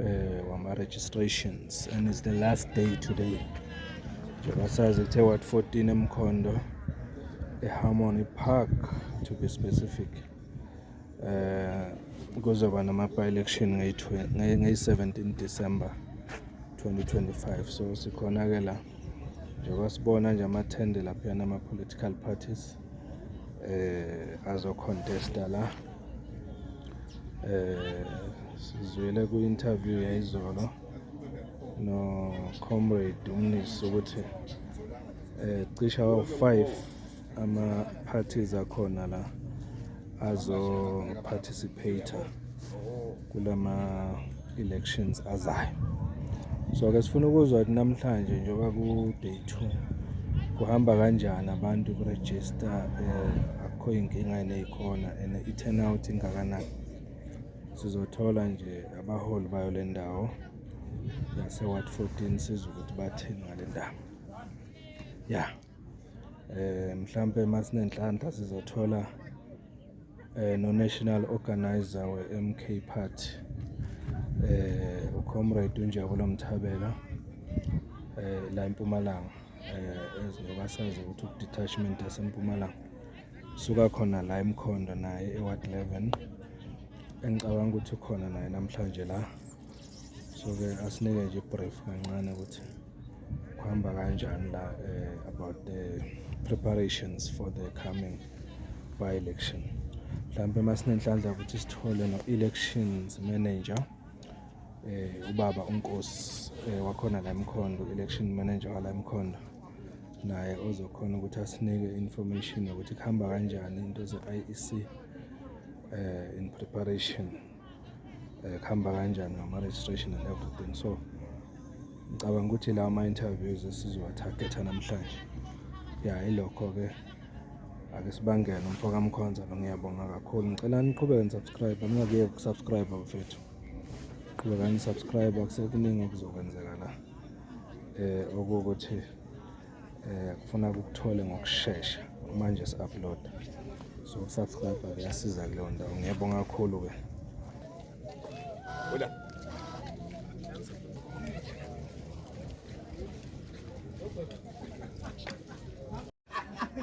eh, wama-registrations and it's the last day today njengoba sazi kuthe wat 14 emkhondo eharmony park to be specific um kuzoba nama-by-election ngeyi-17 december 2025 so sikhona-ke la njengoba sibona nje amathende laphayana ama-political parties eh azocontesta la eh sizwile ku interview yayizolo no comrade umnisi ukuthi eh cisha wa 5 ama parties akhona la azo participate kulama elections azayo so ke sifuna ukuzwa ukuthi namhlanje njengoba ku day 2 kuhamba kanjani abantu ku register eh, akho inkinga neyikhona and i turnout ingakanani sizothola nje abaholi bayo lendawo yase ward 14 sizwe ukuthi bathini ngalendaba yeah eh mhlambe masinenhlanhla sizothola eh, no-national organizer we-mk party eh, ucomrade unjabulo mthabela eh, la empumalanga njengoba eh, sazi ukuthi ukudetachment yasempumalanga suka khona la emkhondo naye eward 11 engicabanga ukuthi ukhona naye namhlanje la so-ke asinike nje ibrief kancane ukuthi kuhamba kanjani la eh, about the preparations for the coming by election mhlawumbe masinenhlanhla ukuthi sithole no-elections manager eh ubaba unkosi eh, wakhona la emkhondo election manager wala emkhondo naye ozokhona ukuthi asinike information yokuthi kuhamba kanjani into ze-IEC eh in preparation eh, kuhamba kanjani ngama-registration and everything so ngicabanga ukuthi lawa ma-interviews esizowa-targetha namhlanje ya yilokho-ke ake sibangele umfo kamkhonza lo ngiyabonga kakhulu ngicela niqhubeke nisubscribe ningakuyeki ukusubscribe bafethu qhubekani nisubscribe akusekuningi okuzokwenzeka la um eh, okuwukuthi eh kufuna ukuthole ngokushesha manje si upload so subscribe kuyasiza kuleyo ndawo ngiyabonga kakhulu ke Hola.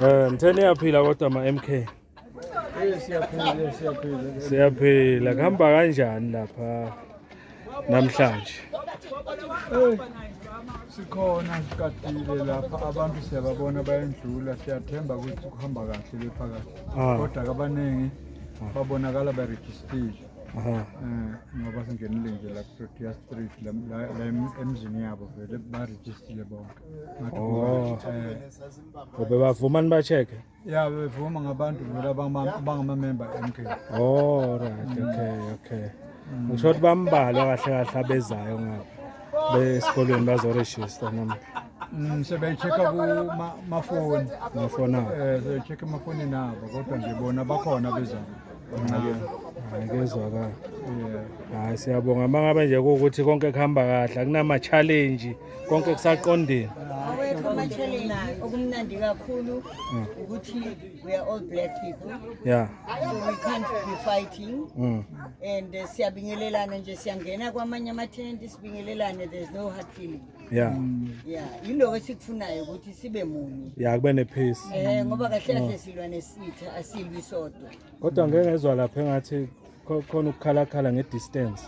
Eh mtheni yaphila kodwa ma MK. siyaphila kuhamba kanjani lapha namhlanje sikhona sikadile lapha abantu siyababona bayendlula siyathemba ukuthi kuhamba kahle bephakathi ah. kodwa kabaningi ah. babonakala barejistile eh, ngoba singenile nje la kuprotea street la emzini yabo vele barejistile bonke oh. eh. bebavumani ba-check-e Yeah, bevuma ngabantu vele abangama- abangamamemba MK. Oh right, okay, okay. Ngisho ukuthi bambalwa kahle kahle abezayo ngapha. Besikolweni bazoregister noma Mm, sebeyi-check-a kuma- mafoni ngafona. um sebeyi-check emafonini abo kodwa nje bona bakhona bezana Hayi kezwakala. um Hayi siyabonga mangabe nje ukuthi konke kuhamba kahle akunama challenge konke kusaqondile awekho ama-challenge okumnandi kakhulu mm. ukuthi we are all black people yeah. so we can't be fighting mm. and uh, siyabingelelana nje siyangena kwamanye amathenti sibingelelane there's no hard feeling ya mm. ya yiloko esikufunayo ukuthi sibe munye ya kube ne-peace um ngoba kahle kahle mm. silwa nesitha asilwi sodwa kodwa ngeke ngezwa lapha engathi khona ukukhalakhala nge-distance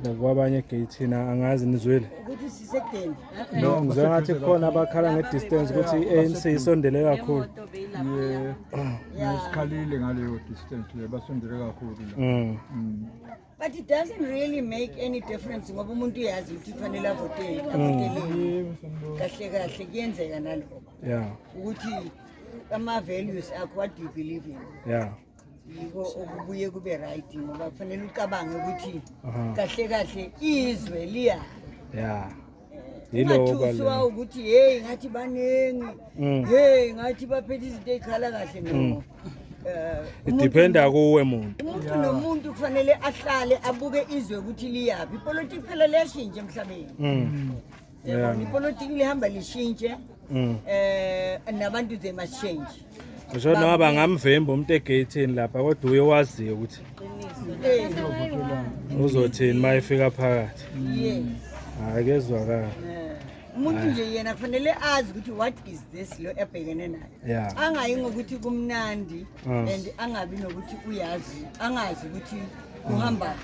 nakuba abanye egeyithini angazi nizwile no ngizwe ngathi kukhona abakhala nge-distance ukuthi i-anc isondele kakhulu sikhalile ngaleyo distance le basondele kakhulu mm. Mm. but it doesn't really make any difference ngoba umuntu uyazi ukuthi kufanele avotele mm. avoteleni kahle kahle kuyenzeka naloko ukuthi ama-values akho what do you believe in yeah yiko okubuye kube right ngoba kufanele ucabange ukuthi kahle kahle izwe liya ya ungathusiwa ukuthi heyi ngathi baningi mm. heyi ngathi baphethe izinto ey'khala kahle no mm. eh, idependa kuwe muntu umuntu nomuntu kufanele ahlale abuke izwe ukuthi liyaphi ipolitiki phela liyashintsha emhlabeni mm. yabona ipolitiki lihamba lishintshe um nabantu they must change ngisho noma bangamvimba umuntu egeyithini lapha kodwa uye waziyo ukuthi uzothini uma efika phakathi hhayi kezwakala umuntu nje yena kufanele azi ukuthi what is this lo ebhekene nayo angayi ngokuthi kumnandi Mm. and angabi nokuthi uyazi angazi ukuthi uhamba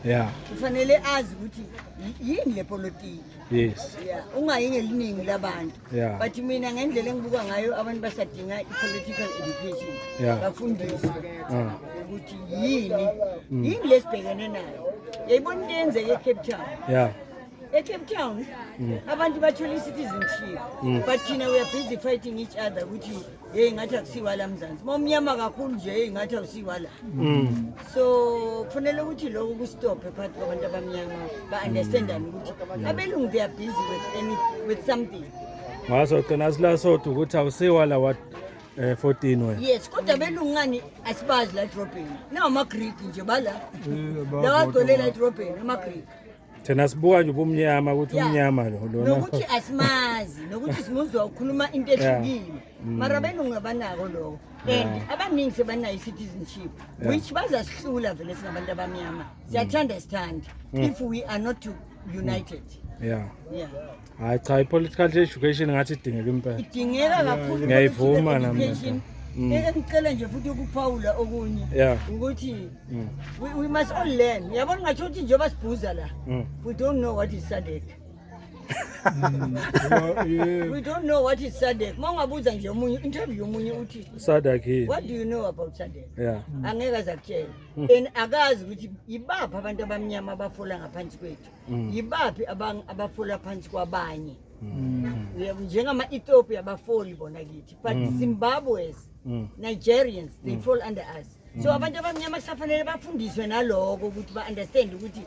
yeah kufanele azi ukuthi yi- yini le politiki yes yeah ungayi ngeliningi labantu Yeah. but mina ngendlela engibuka ngayo abantu basadinga i-political education Yeah. bafundiswe Mm. ukuthi yini yini lesibhekene nayo yayibona into eyenzeka ecape town yeah ecape town abantu bathola i-citizenship but thina we are busy fighting each other ukuthi yeyi ngathi akusiwa la mzansi uma umnyama kakhulu nje yeyi ngathi awusiwa la Mm. so kufanele ukuthi lokho kustophe phakathi kwabantu abamnyama ba-understandane ukuthi abelungu they are busy with, any, with something Wazogcina sila sodwa ukuthi awusiwa la wa eh, 14 wena. yes kodwa abelungu ngani asibazi la edrobheni nawamagreek nje bala lawagcwele la edrobheni amagreek thina sibuka nje ubumnyama ukuthi Yeah. umnyama lo lona nokuthi asimazi nokuthi simuzwa ukhuluma into Yeah. ehlukile Mm. mara abelungu abanako lokho and abaningi sebanayo i-citizenship Yeah. which bazasihlula vele singabantu abamnyama siyathanda sithanda Mm. if we are not to- united yeah yeah hayi cha i-political education ngathi idingeka impela idingeka kakhulu ngiyayivuma nami Mm. Eh, engicela nje futhi ukuphawula okunye ukuthi mm. we must all learn yabona ngatho ukuthi njengoba sibhuza la mm. we don't know what is sadek we don't know what is sadek uma ungabuza nje omunye interview yomunye uthi sadek what do you know about sadek angeke aze akutshela and akazi ukuthi yibaphi abantu abamnyama abafola ngaphansi kwethu Mm. yibaphi abang- abafola phansi kwabanye Mm. Uyabo, njengama-ethiopia abafoli bona kithi but zimbabweans Mm. nigerians they fall under us so abantu abamnyama kusafanele bafundiswe naloko ukuthi ba-understand ukuthi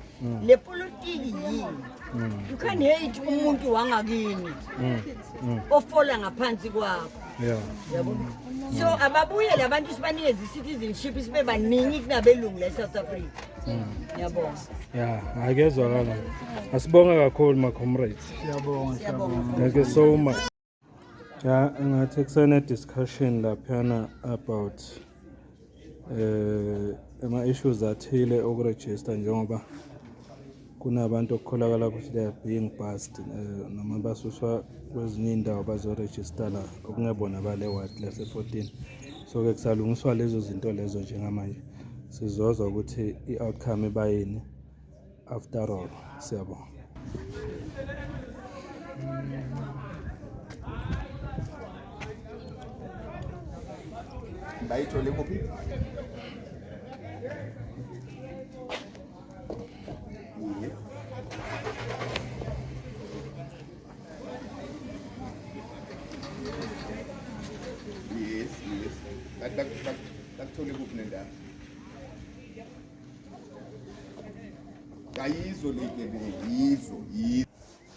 le politiki yini you can hate umuntu wangakini ofola ngaphansi kwakho Yeah. yabo so ababuyele abantu sibanikeze i-citizenship sibe baningi kunabelungu la e-south africa Ngiyabonga. Yeah, akezwakala. Asibonga kakhulu ma comrades. Siyabonga, siyabonga. Thank you so much. Ja, ngathi kusene discussion laphana about eh ama issues athile okuregister njengoba Kunabantu okukholakala ukuthi they are being passed eh, noma basuswa kwezinye iy'ndawo bazorejista la okungebona bale ward lase-14 so-ke kusalungiswa lezo zinto lezo njengamanje sizozwa ukuthi i-outcome ibayini after all siyabonga bayithole kuphi Yes, yes. Bak bak bak. Bak tole kuphi nendawo. Kayizo le ke yizo, yizo.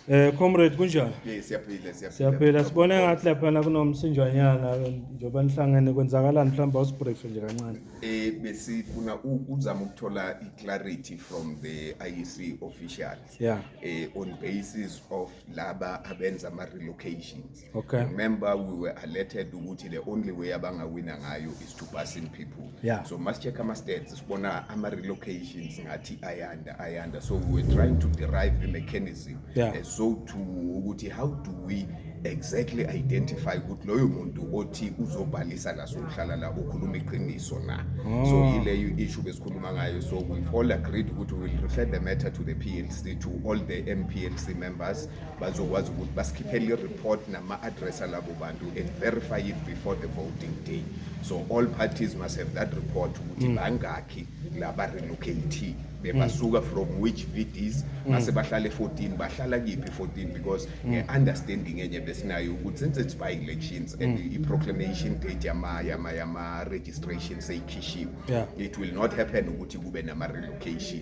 Eh comrade kunjani? Hey siyaphila siyaphila. Siyaphila sibone ngathi lapha kunomsinjwanyana njengoba nihlangene kwenzakalani mhlawumbe awusibrief nje kancane. Eh besifuna ukuzama ukuthola i-clarity from the IEC officials. Yeah. Eh on basis of laba abenza ama relocations. Okay. Remember we were alerted ukuthi the only way abangawina ngayo is to pass in people. Yeah. So must check ama stats sibona ama relocations ngathi ayanda ayanda. So we were trying to derive the mechanism. Yeah. Uh, so to ukuthi how do we exactly identify ukuthi loyo muntu othi uzobhalisa la sokuhlala la ukhuluma iqiniso na oh. so yileyo issue besikhuluma ngayo so we've all agreed ukuthi we will refer the matter to the PLC to all the MPLC members bazokwazi ukuthi basikhiphele i-report nama-address alabo bantu and verify it before the voting day so all parties must have that report ukuthi mm. bangakhi la ba-relocate bebasuka mm. from which vds mm. mase bahlale 14 bahlala kiphi 14 because nge-understanding enye besinayo ukuthi since it's by elections and i-proclamation date yama-registration seyikhishiwe it will not happen ukuthi kube nama-relocation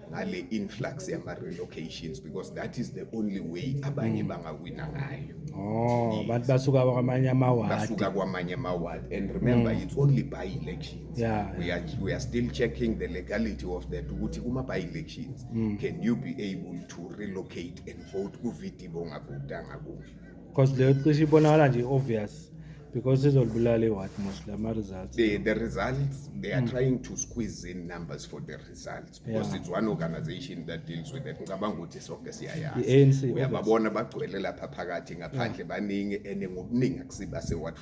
ngale influx yama relocations because that is the only way abanye mm. bangawina ngayo oh abantu basuka kwamanye amaward basuka kwamanye amaward and remember mm. it's only by elections yeah, we are we are still checking the legality of that ukuthi kuma by elections mm. can you be able to relocate and vote ku VT bongavotanga kuyo because leyo cishe ibonakala nje obvious because izolibulala iward most lama results the, the results they are mm. trying to squeeze in numbers for the results because yeah. it's one organization that deals with that ngicabanga ukuthi sonke siyayazi uyababona bagcwele lapha phakathi ngaphandle baningi ene ngobuningi akusiba se-ward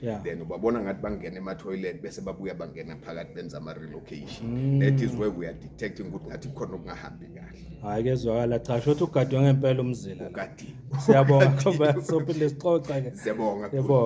14 then ubabona ngathi bangena ema-toilet bese babuya bangena phakathi benza ama-relocation mm. that is where we are detecting ukuthi ngathi khona okungahambi kahle hhayi kezwakala cha sho ukuthi ugadwe ngempela umzila ugadiwe siyabonga sophinde sixoxa-ke siyabonga